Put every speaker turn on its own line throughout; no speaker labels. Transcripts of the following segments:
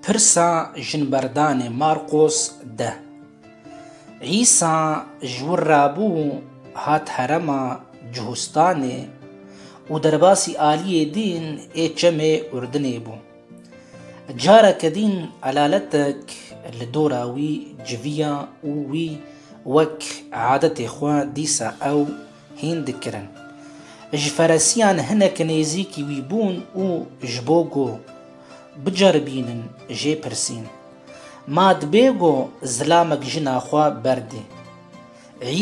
Pirsa jinberdanê Marqos deh. Îsa ji wir re bû hat herema Cuhustanê û derbasî aliyê dîn ê çemê Urdinê bû. Careke dîn elaletek li dora wî civiya û wî wek adetê xwe dîsa ew hîn dikirin. Ji feresiyan hinek nêzîkî wî bûn û ji bo ku biceribînin jê pirsîn, Ma dibê ku zilamek jina xwe berdê?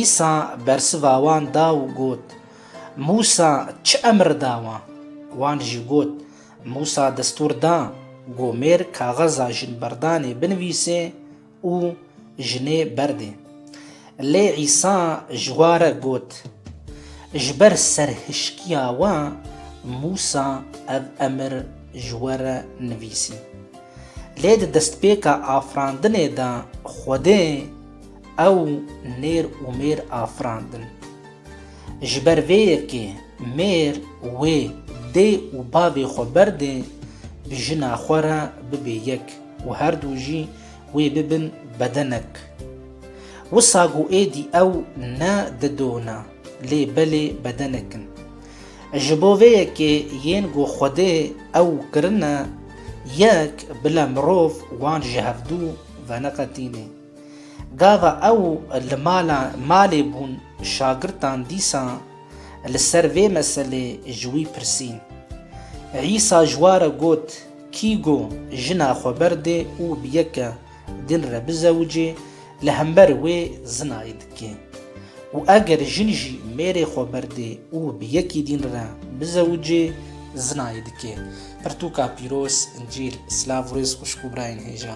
Îsa bersiva wan da û got, Mûsa çi emr da wan? Wan jî got, Mûsa destûr da ku mêr kaxeza jinberdanê binivîsê, û jinê berdê. Lê Îsa ji wa re got, Ji ber serhişkiya we Mûsa ev emir ji we re nivîsî. Lê di destpêka afirandinê de Xwedê ew nêr û mêr afirandin. Ji ber vê yekê mêr wê dê û bavê xwe berdê bi jina xwe re bibê yek. û her du jî wê bibin bedenek. Wisa ku êdî ew ne dido ne, lê belê bedenek in. Ji bo vê yekê yên ku Xwedê ew kirine yek, bile mirov wan ji hevdu ve neqetînê. Gava ew li mala malê bûn şagirtan dîsa li ser vê meselê ji wî pirsîn. Îsa ji wa re got. Kî go jina xwe berdê û bi yeke din re bizewicê, li hember wê zinayê dike. Û eger jin jî mêrê xwe berdê û bi yekî din re bizewicê, zinayê dike. Pirtûka pîroz, încîl, silav û rêz xwişk û birayên hêja.